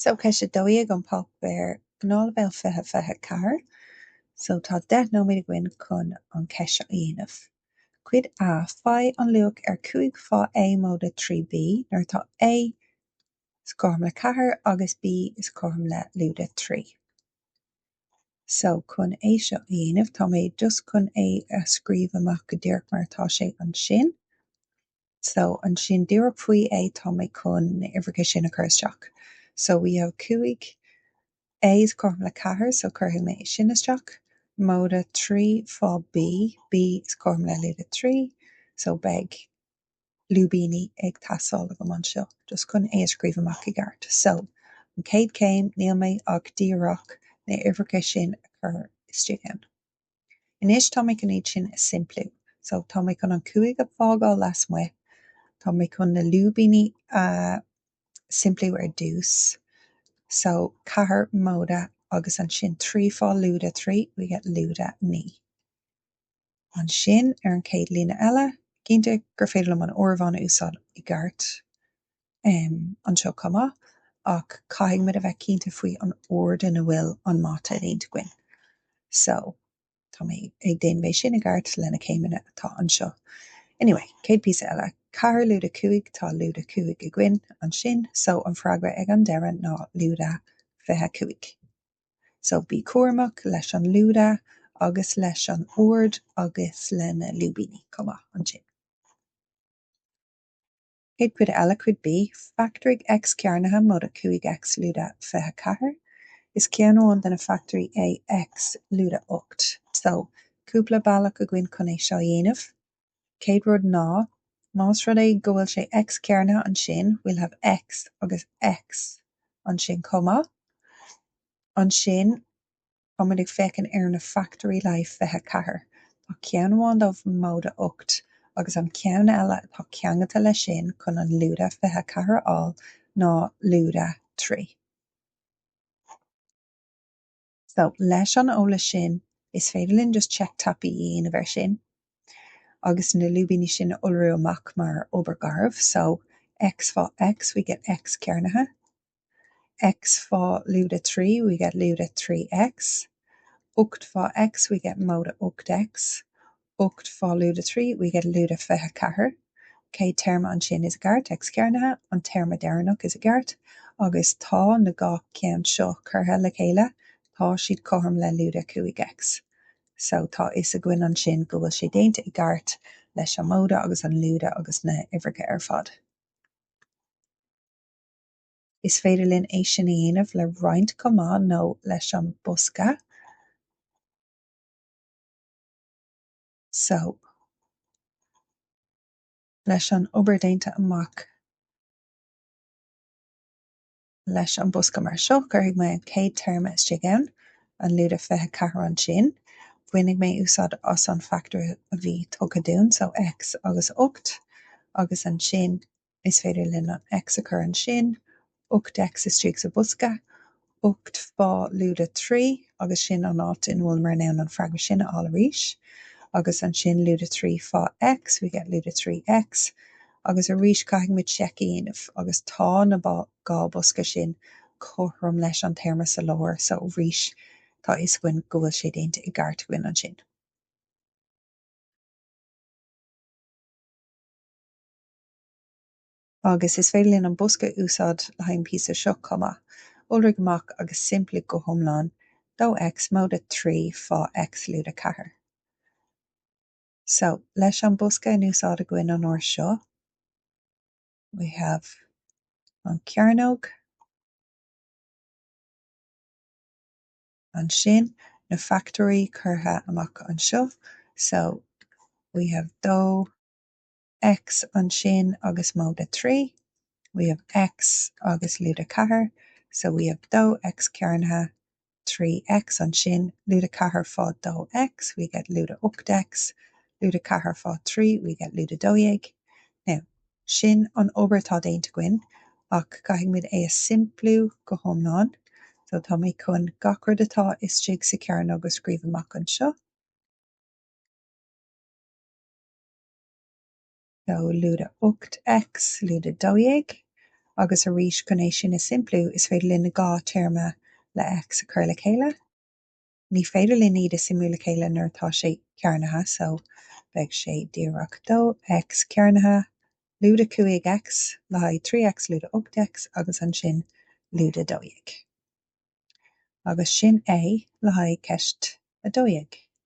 So ceist a dó dhéag an páipéar Gnáthleibhéal 20, 24 so tá deich nóiméad againn chun an cheist seo a dhéanamh. Cuid A, Faigh an luach ar 5 fá A móide 3 B nuair atá A is cothrom le 4 agus B is cothrom le lúide 3. So chun é seo a dhéanamh tá mé just chun é a scríobh amach go díreach mar atá sé ansin. So, ansin díreach faoi é tá mé chun na uimhreacha sin a chur isteach. So, we have 5 A is cothrom le 4 so cuirfidh mé é sin isteach, móide 3 fá B, B is cothrom le lúide 3 so beidh lúibíní ag teastáil agam anseo just chun é a scríobh amach i gceart. So, an chéad chéim níl mé ach díreach na uimhreacha sin a chur istigh ann. Anois tá mé chun iad sin a simpliú. So, tá mé chun an cúig a fágáil lasmuigh, tá mé chun na lúibíní a simpliú ar dtús. So, ceathair móide agus ansin trí fá lúide trí, we get lúide naoi. Ansin, ar an chéad líne eile, cinnte gur féidir liom an áireamhán a úsáid i gceart. anseo chomh maith ach caithfidh muid a bheith cinnte faoi an ord ina bhfuil an mata déanta againn. So, tá mé ag déanamh é sin i gceart lena céimeanna atá anseo. Anyway, céad píosa eile, ceathair lúide cúig, tá lúide cúig againn ansin, so an freagra ag an deireadh ná lúide fiche cúig. So, bí cúramach leis an lúide agus leis an ord agus lena lúibíní chomh maith ansin. Céad cuid eile cuid B, fachtóirigh X cearnaithe móide 5X lúide 24 is ceann amháin de na fachtóirí é X lúide 8. So, cúpla bealach againn chun é seo a dhéanamh. Céad rud ná, más rud é go bhfuil sé X cearnaithe ansin we'll have X agus X ansin chomh maith. Ansin. Tá muid ag féachaint ar na fachtóirí le 24. Tá ceann amháin dóibh móide 8 agus an ceann eile atá ceangailte leis sin chun an lúide 24 a fháil ná lúide 3. So, leis an eolas sin, is féidir linn just check tapaidh a dhéanamh ar sin agus na lúibíní sin a iolrú amach mar obair gharbh. So, X fá X, we get X cearnaithe. X fá lúide 3, we get lúide 3X. Ocht fá X, we get móide ocht X. Ocht fá lúide 3, we get lúide 24. Céad téarma ansin is i gceart, X cearnaithe, an téarma deireanach is i gceart. Agus tá na dhá cheann seo curtha le chéile, tá siad cothrom le lúide 5X. So tá fhios againn ansin go bhfuil sé déanta i gceart leis an móide agus an lúide agus na huimhreacha ar fad. Is féidir linn é sin a dhéanamh le roinnt chomh maith nó leis an bosca so leis an obair déanta amach leis an bosca mar seo, cuirfidh mé an chéad téarma istigh ann, an lúide 24 ansin. Bainfidh mé úsáid as an factor a bhí tugtha dúinn, so x agus 8, agus ansin Is féidir linn an X a chur ansin, ocht X istigh sa bosca, ocht fá lúide trí, agus sin an áit ina bhfuileamar in ann an freagra sin a fháil arís. Agus ansin lúide trí fá X, we get lúide trí X. Agus arís caithfidh muid seic a dhéanamh, agus tá na dhá bosca sin cothrom leis an téarma sa lár, so arís tá fhios againn go bhfuil sé déanta i gceart againn ansin. Agus is féidir linn an bosca a úsáid le haghaidh an píosa seo chomh maith. Iolraigh amach agus simpligh go hiomlán, dó X móide 3 fá X lúide 4. So, leis an bosca in úsáid againn an uair seo, we have an cearnóg, ansin na fachtóirí curtha amach anseo, so we have dó, X ansin agus móide 3, we have X agus lúide 4, so we have 2X cearnaithe trí X ansin, lúide 4 fá 2X, we get lúide 8 X, lúide 4 fá 3, we get lúide 12. Now, sin an obair atá déanta againn ach caithfidh muid é a simpliú go hiomlán, so tá mé chun gach rud atá istigh sa cearnóg a scríobh amach anseo. So lúide 8 X lúide 12 agus arís chun é sin a simpliú is féidir linn na dhá téarma le X a chur le chéile. Ní féidir linn iad a suimiú le chéile nuair atá sé cearnaithe so beidh sé díreach 2X cearnaithe lúide 5 X le haghaidh 3 X lúide 8 X agus ansin lúide 12. Agus sin é le haghaidh ceist a 12.